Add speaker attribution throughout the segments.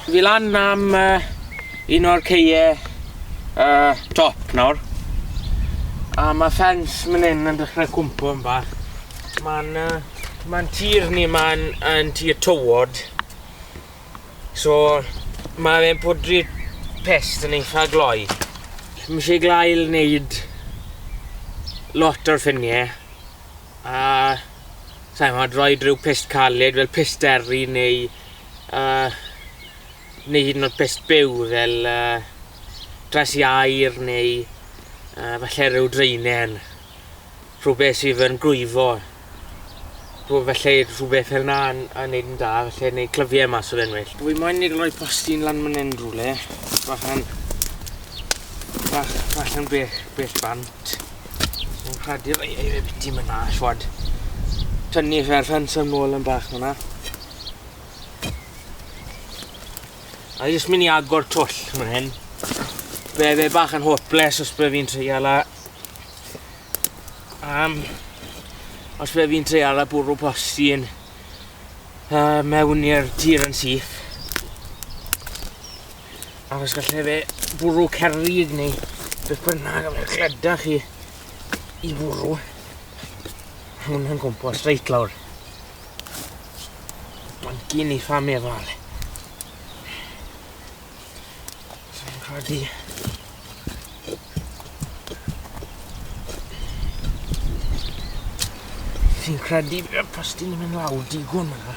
Speaker 1: Fi lan am uh, un o'r ceie uh, top nawr. A mae ffens mynd hyn yn dechrau cwmpo yn bach. Mae'n uh, ma tir ni mae'n yn tir tywod. So mae fe'n pwdri pest yn eitha gloi. Mae eisiau glael wneud lot o'r ffiniau. a saimo mod droed rhyw pist caled fel pist eri neu uh, neu hyd yn oed pist byw fel uh, dres i air neu uh, falle rhyw dreinen rhywbeth sydd yn grwyfo rhyw felly rhywbeth fel na yn, yn neud yn da felly neu clyfiau mas o fe'n well. Dwi moyn neud roi postyn lan myn yn rhywle bach yn bach, bach yn bell, bell bant. Mae'n rhadu'r eire biti mynd na, siwad. Tynnu fe'r ffens yn ôl yn bach fyna. A jyst mynd i agor twll fan hyn. Be fe bach yn hopeless os be fi'n treial a... Um, os be fi'n treial a bwrw posti yn uh, mewn i'r tir yn syth. Ac os gallai fe bwrw cerrig neu beth bynnag a fe gleda chi i fwrw hwn yn gwmpas reit lawr. Mae'n gyn eitha meddal. Sa'n credu. Fi'n credu bod y pastyn yn mynd lawr digon yna.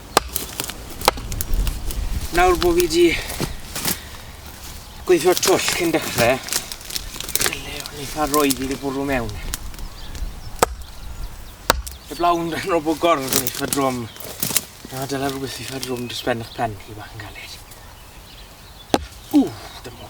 Speaker 1: Nawr bod fi wedi gweithio'r twll cyn dechrau, dyle o'n eitha roed i wedi bwrw mewn. Y blawn yn rhan o bod gorf yn eitha drwm. Na, dyle rhywbeth eitha drwm dros ben eich pen chi bach yn galed. Ww, dymo.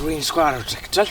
Speaker 1: Rwy'n sgwar o trictol.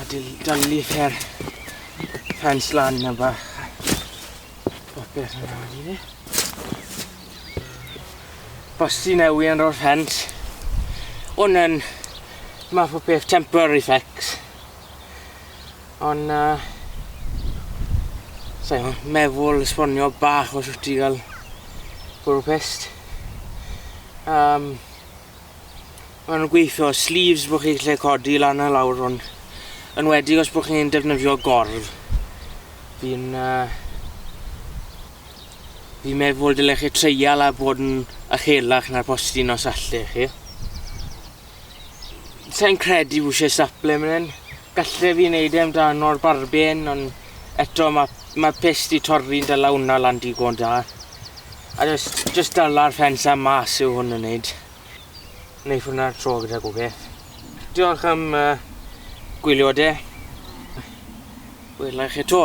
Speaker 1: a dalu fer ffens lan a bach popeth yna wedi ni. Bosti newi yn ro'r ffens. Hwn yn math o beth temporary fix. Ond uh, so, meddwl esbonio bach os wyt ti gael bwrw pest. Um, ma' nw'n gweithio sleeves bo' chi lle codi lan a lawr hwn. Enwedig os bo' chi'n defnyddio gordd. Fi'n uh, fi'n meddwl dyle chi treial a bod yn uchelach na'r postyn os alle chi. Sa'n credu wishe staple myn hyn. Galle fi neud e amdano'r barben ond eto ma' ma'r pyst 'di torri'n dal a wnna lan digon da. A jys jyst dala'r ffens a mas yw hwn yn neud. Neith hwnna tro gyda gwbeth. Diolch am uh, gwylio de. Wela i chi to.